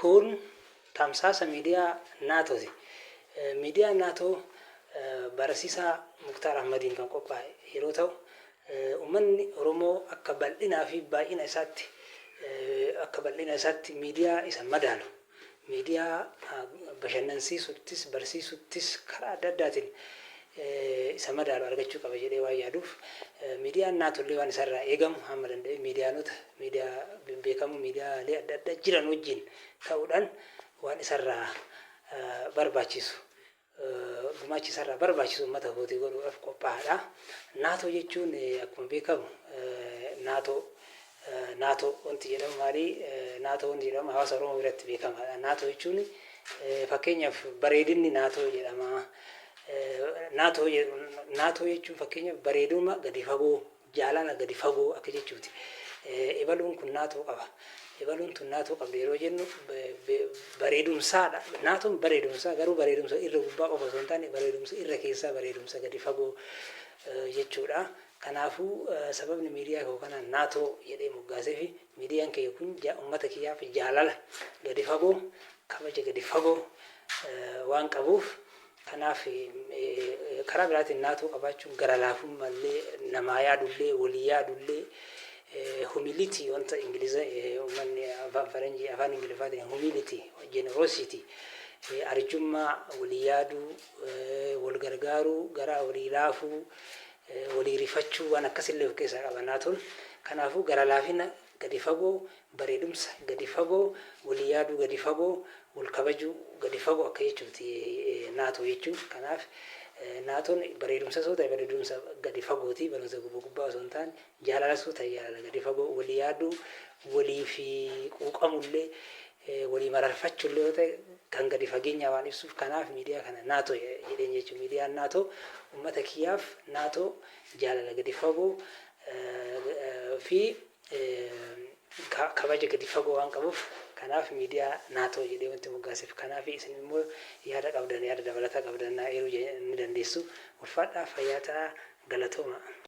Kun tamsaasa miidiyaa NATOti. Miidiyaan NATO barasiisaa Muktaar Ahmadiin kan qophaa'e yeroo ta'u, ummanni Oromoo akka bal'inaa fi baay'ina isaatti akka bal'ina isaatti miidiyaa isa madaalu, miidiyaa bashannansiisuttis, barsiisuttis karaa adda addaatiin isa madaalu argachuu qaba jedhee waan yaaduuf miidiyaan Naatollee waan isarraa eegamu hamma danda'e miidiyaanota miidiyaa bebbeekamoo miidiyaalee adda addaa jiran wajjin ta'uudhaan waan isarraa barbaachisu gumaachi isarraa barbaachisu uummata kootii godhuudhaaf qophaa'aadha. Naatoo jechuun akkuma beekamu naatoo Nato wanti jedhamu maali? Nato wanti jedhamu hawaasa Oromoo biratti beekamaadha. Nato jechuun fakkeenyaaf bareedinni Nato jedhama. Nato Nato jechuun fakkeenyaaf bareeduma gadi fagoo, jaalala gadi fagoo akka jechuuti. Ibaluun kun Nato qaba. Ibaluun tun Nato qabdi yeroo jennu bareedumsaadha. Naton bareedumsaa garuu bareedumsa irra gubbaa qofa osoo hin taane bareedumsa irra keessaa bareedumsa gadi fagoo jechuudha. Kanaafuu sababni miidiyaa koo kana Nato jedhee moggaaseef miidiyaan kiyya kun ummata kiyyaaf jaalala gadi fagoo, kabaja gadi fagoo waan qabuuf kanaaf karaa biraatiin Nato qabaachuun gara laafummaa illee namaa yaadu illee walii yaadu illee humility wanta Ingiliza ummanni afaan faranjii afaan Ingiliffaatiin humility, generosity, arjummaa, walii yaaduu, wal gargaaruu, garaa walii laafuu, walii rifachuu waan akkas illee of keessaa qaba naatoon. Kanaafuu gara laafina gadi fagoo, bareedumsa gadi fagoo, walii yaaduu gadi fagoo, wal kabajuu gadi fagoo akka jechuuti naatoo jechuun. Kanaaf naatoon bareedumsas yoo ta'e bareedumsa gadi fagooti, bareedumsa gubba gubbaa osoo hin taane, jaalalas yoo ta'e jaalala gadi fagoo, walii yaaduu, waliif quuqamu illee walii mararfachuu illee yoo ta'e kan gadi fageenyaa waan ibsuuf kanaaf miidiyaa kana Nato jedheen jechuun miidiyaan Nato ummata kiyyaaf Nato jaalala gadi fagoo fi kabaja gadi fagoo waan qabuuf kanaaf miidiyaa Nato jedhee wanti moggaaseef kanaaf isin immoo yaada qabdan yaada dabalataa qabdan naa eeruu ni dandeessu ulfaadhaa fayyaa ta'aa galatooma.